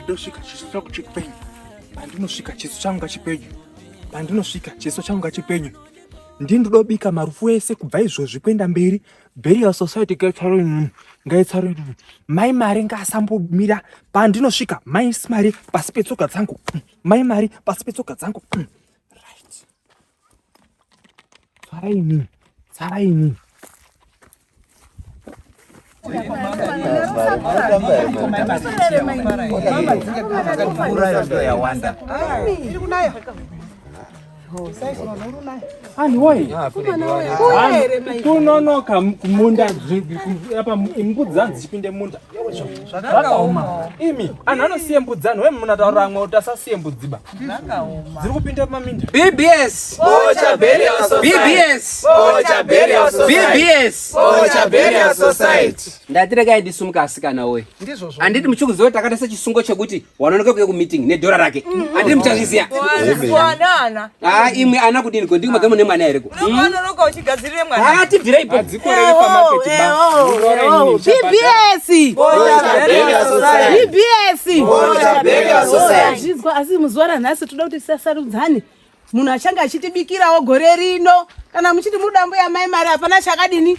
ndosvika chiso changu chipenyu pandinosvika chiso changu ngachipenyu pandinosvika chiso changu ngachipenyu ndini ndodobika marufu ese kubva izvozvi kuenda mberi burial society gaitsaroin ngaitsaroin mai mari ngaasambomira pandinosvika mai mari pasi petsoka dzangu mai mari pasi petsoka dzangu Tsaraini, tsaraini. Anhu woye, kunonoka kumunda apa mbudzi dzanzi dzichipinde munda. Zvakaoma. Imi, anhu anosiye mbudzi anhu, wemunataura amwe kuti asasiye mbudzi ba. dziri kupinda maminda bbs bocha burial bbs bocha burial bbs bocha burial society ndati regai ndisumuka asikana woye ndizvozvo anditi muchikuziva takata sechisungo chekuti wanonoka kuya kumeeting nedhora rake anditi muchazviziva imwe ana kudini ko ndiko magamune mwana here ko Unoonoroka uchigadzirire mwana. Ah, tibvire ipo. Adzikorere pamarket ba. BBS. BBS. Zvinzwa asi muzuva ranhasi toda kuti sasarudzane. Munhu achange achitibikirawo gore rino kana muchiti mudambo yamai mari hapana chakadini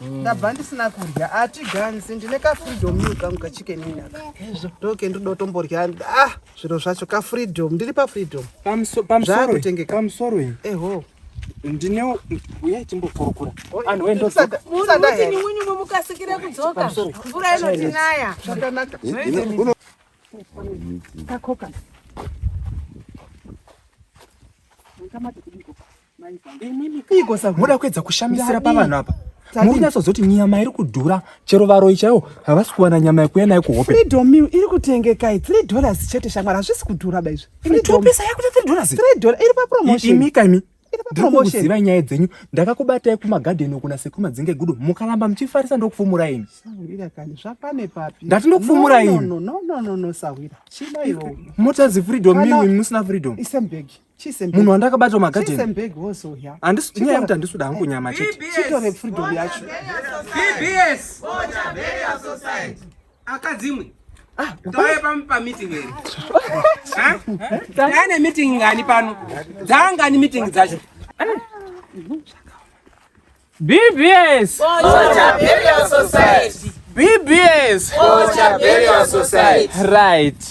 Mm. ndabva ndisina kudya hatiganzi ndine kafreedom iu kangu kachicken inaka ndoke ndodotomborya ah zviro zvacho kafreedom ndiri pafreedom pamusoro iyi eho ndine uye timbokurukura anhu wendosamunyumwe mukasikire kudzoka mvura inotinaya zvakanaka kakoka Moda kuedza kushamisira pavanhu apa muri natsozoti nyama iri kudhura chero varoyi chaivo havasi kuwana nyama yekuya nayo kuhope freedom meal iri kutengekai three dollars chete shamwari hazvisi kudhura ba izvi topisa yakuti three dollars three dollars iri papromotion imika imi ndikuziva nyaya dzenyu ndakakubatai kumagadheni okuna sekumadzinga egudo mukaramba muchifarisa ndokufumura ini ndati ndokufumura ini motadzi freedom mimi musina freedom munhu wandakabata mumagadeni inyaya yekuti handisuda hangu nyama chetechitore freedom yacho bbs akadzimwe ah, tauye pam pameeting eri taane meeting ngani pano dzaangani meeting dzacho eh. BBS Bocha Burial Society. BBS Bocha Burial Society. Right.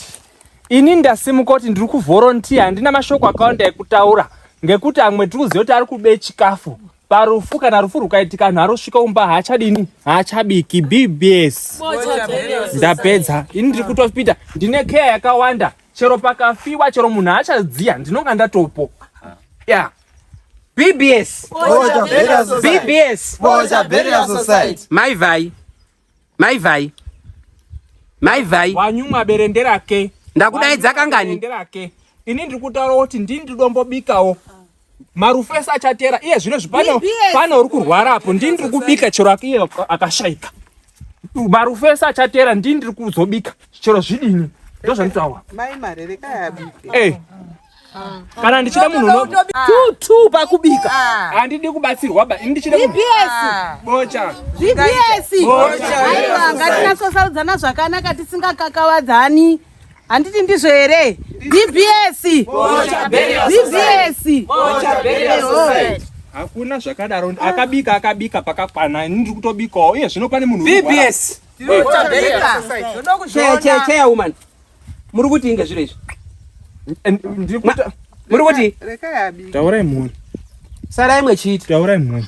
Ini ndasimuka kuti ndiri kuvolunteer handina mashoko akawanda ekutaura ngekuti amwe tiri kuziva kuti ari kube chikafu parufu kana rufu rukaitika anhu arosvika umba haachadini haachabiki bbs ndapedza ini ndiri kutopita ndine keya yakawanda chero pakafiwa chero munhu haachadziya ndinonga ndatopo ya yeah. BBS. Boja Burial Society. BBS. Boja Burial Society. Mai vai. Mai vai. Mai vai. Wanyumwa berende rake. Ndakudaidza kangani? Ini ndiri kutaura kuti ndini ndidombobikawo. Marufu ese achatera iye zvino zvipano pano uri kurwara apo ndini ndiri kubika chero akashaika. marufu ese achateera ndini ndiri kuzobika chero zvidini ndozvanditaura mai mari rekai abike eh. kana ndichida munhu tutu pakubika handidi ah. kubatsirwa ba ndichida ah. bocha zvibiesi aiwa ngatinasosarudzana zvakanaka tisingakakavadzani handiti ndizvo here bbs bbs hakuna zvakadaro ah. akabika akabika pakakwana ini ndiri kutobikawo uye zvino pane munhu bbs cheya woman muri kuti inge zviro izvi muri kuti taurai mhuri sarai mwechiita taurai mhuri